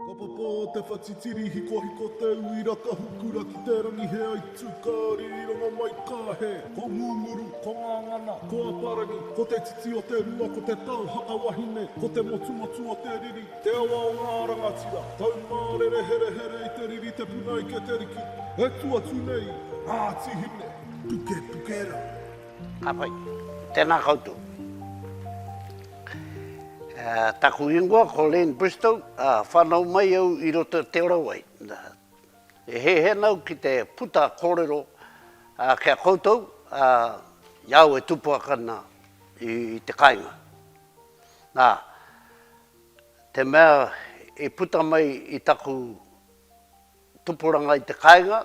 Ka papa te whatitiri hikohiko te uira ka hukura ki te rangi he aitu ka ririranga mai ka he Ko Ngunguru, ko Ngangana, ko Aparangi Ko te titi o te rua ko te tau haka wahine Ko te motumotu o te riri, te awa o ngā rangatira Taumārere herehere i te riri te puna ike te riki E tu atu nei Ngāti Hine, puke puke rā. Ka pai. Tēnā koutou. Taku ingoa ko Len Bristow, whanau mai au i roto i Te Orawai. E hehe nau ki te puta korero ki a koutou i au e tupuaka na i te kainga. Na, te mea i puta mai i taku tupuranga i te kainga,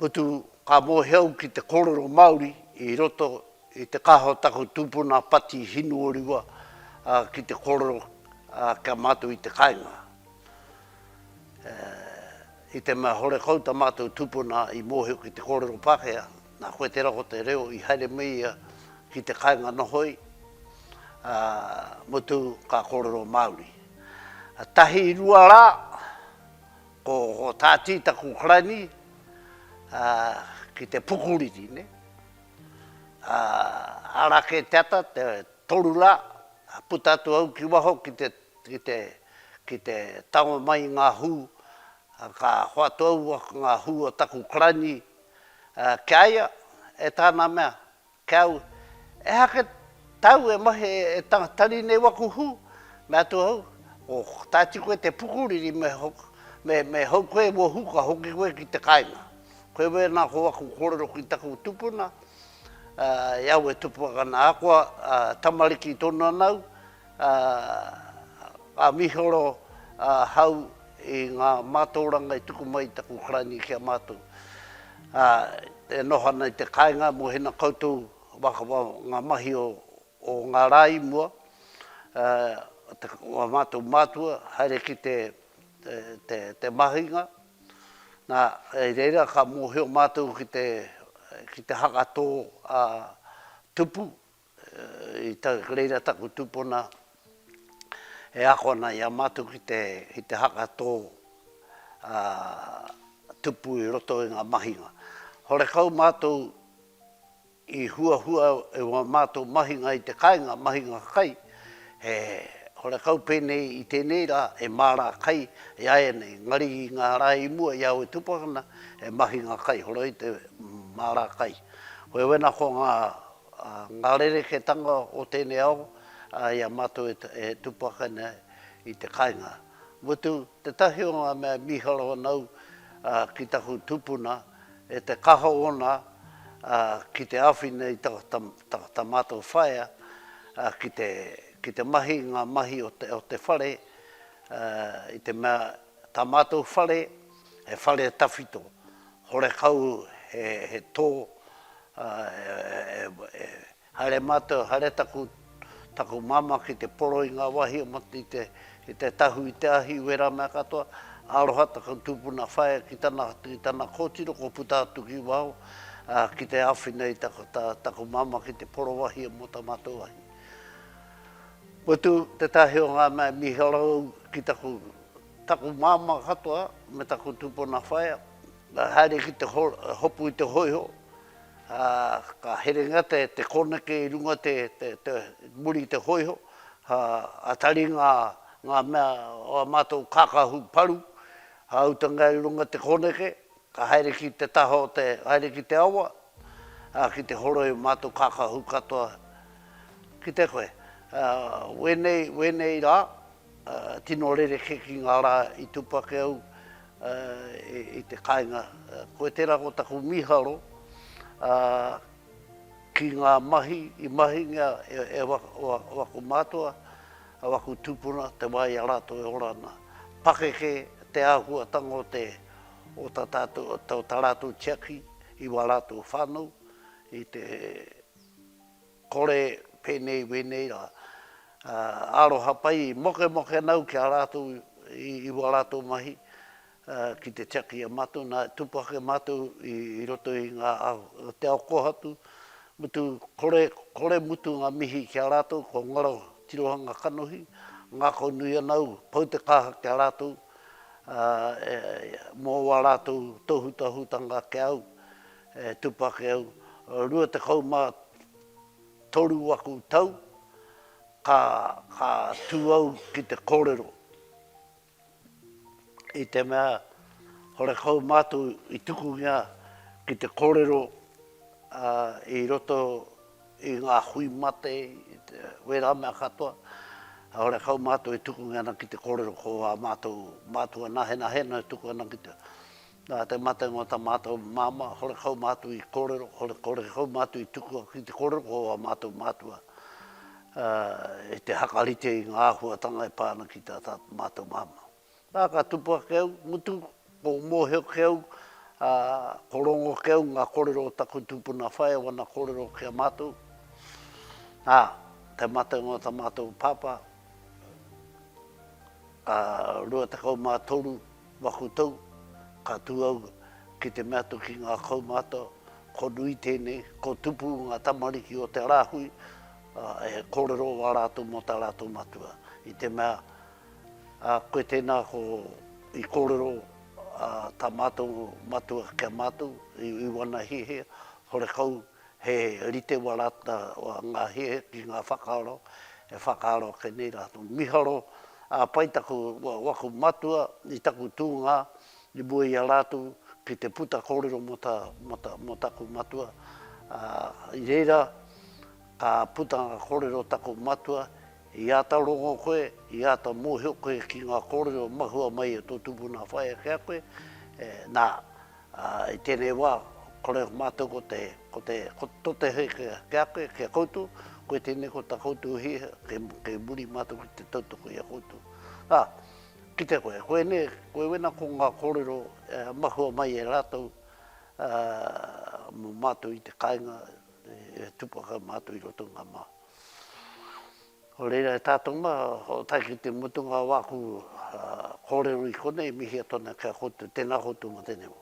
Putu, ka mōhio ki te kōrero Māori i roto i te kaha o taku tupuna Pati Hinuorua ki te kōrero ki a mātou i te kāinga. I te mea hore kau ta mātou tupuna i mōhio ki te kōrero Pākehā, nā koe tērā ko te reo i haere me ia ki te kāinga nohoi, mutu ka kōrero Māori. Tahi, rua rā, Ko Tāti taku karani ki te pukuriri ne. Ara ke te ata te toru la puta atu au ki waho ki te ki te ki te tango mai i nga hu ka hoatu au nga hu o taku karani kia ia e tana mea Kau, ehake tau e mahi e tanga tari nei waku hu, me atu au, ko tati koe te pukuriri me me hou koe mo hu ka hoki koe ki te kainga. Koe wena ko waku korero ki taku tupuna, e au e tupu akana akoa, tamariki tonu ana au, a a mihoro a hau i nga mataoranga i tuku mai i taku karani ki a matou a e noho ana i te kainga mo hina koutou waka wa nga mahi o o nga ra i mua a te wa matou matua haere ki te te te mahinga na i reira ka mohio matou ki te ki te haka to a tupu Reira taku tupuna e ako ana i a matou ki te haka to tupu i roto i nga mahinga. Horekau matou i huahua e wa matou mahinga i te kainga, mahinga kai, he horekau penei i tenei ra e mara kai i a enei, engari i nga ra i mua i aue tupakana he mahinga kai, horoi te mara kai. Wewena ko nga Ngā rerekētanga o tēnei ao, i a mātou e tūpākai nei i te kainga. Mutu, tētahi o ngā mea e mīharo ana au ki taku tupuna, e te kaha ōna ki te āwhina i tā mātou whaea ki te mahi i ngā mahi o te whare, i te mea Tā mātou whare, he whare tawhito, horekau he tō, e haere mātou, haere taku māmā ki te poro i ngā wāhi o Matariki i te tahu i te ahi, i wērā mea katoa, aroha taku tūpuna whaea ki tana kōtiro kua puta atu ki waho ki te āwhina i taku māmā ki te poro wāhi mō tā mātou ahi. Mutu, tētahi o ngā mea e mīharo au ki taku. taku māmā katoa me taku tūpuna whaea, ka haere ki te hopu i te hōiho, ā, ka herenga te kōneke i runga te, te, te, muri i te hōiho, ā, a tari ngā, ngā mea o ā mātou kākahu paru, a utanga i runga te kōneke, ka haere ki te taha o te, haere ki te awa, ā, ki te horoi ō mātou kākahu katoa ki te koe. Ā, wēnei, wēnei rā, Tino rerekē ki ngā rā i tupu ake au i te kāinga. Koe tērā ko taku mīharo ki ngā mahi i mahingia e waku mātua, e waku tūpuna, te wā i a rātou e ora ana. Pakeke te āhuatanga o te, o tā tātou, o tā rātou tiaki i wā rātou whānau, i te. Kore, penei, wenei ra. Aroha pai, mokemoke nau ki a ratou i wa ratou mahi ki te tiaki e matou, na, tupu ake matou i roto i nga ahu o te ao kohatu, mutu, kore, kore mutu nga mihi ki a ratou ko ngaro tirohanga kanohi, ngako nui ana au, pau te kaha ki a ratou mo wa ratou tohutahutanga ki a au, E tupu ake au, rua tekau mā toru aku tau, ka, ka tū au ki te kōrero. I te mea, horekau mātou i tukungia ki te kōrero i roto i ngā hui mate, wērā mea katoa, horekau mātou i tukungia ana ki te kōrero ko ā mātou mātua nahenahe nō e tuku ana ki te. Nā te matenga o tā mātou māmā, horekau mātou i kōrero, horekau mātou i tukua ki te kōrero o ā mātou mātua i te hakarite i ngā āhuatanga e pā ana ki tā mātou māmā. Ā, ka tupu ake au, mutu, ko mōhio ki au, ko rongo ki au ngā kōrero o taku tūpuna whaea wana kōrero ki a mātou. Ā, te matenga o tā mātou pāpā, 23 Makutou, ka tū au ki te mea atu ki ngā kaumātua, ko nui tēnei, ko tupu ngā tamariki o te rāhui, ā, e kōrero wā rātou mō tā rātou matua. I te mea, ā, koe tēnā ko, i kōrero, ā, tā mātou matua ki a mātou, i, i wana hiahia, horekau, He rite wa rata wa nga hie ki nga whakaaro, e whakaaro ake nei ratou. Miharo, a pai taku waku matua i taku tuunga i mua i a ratou ki te puta korero mo ta mo taku matua, a i reira ka puta nga korero taku matua, i ata rongo koe, i ata mohio koe ki nga korero mahua mai e to tupuna whaea ki a koe, na, Ā, i tēnei wā, kore ko mātou ko te, ko te, ko te tote hei ki a, ki a koe, ki a koutou, koe tēnei ko tā koutou hiahia, kei, kei muri mātou ki te tautoko i a koutou. Ā, kite koe, koe nei, koe wena ko ngā kōrero e mahua mai e rātou, ā, mō mātou i te kāinga e, e tū pakau mātou i roto i ngā mā. Nō reira e tātou mā, o tae ki te mutunga o āku kōrero i konei, e mihia tonu ki a koutou. Tēnā koutou mō tēnei wā.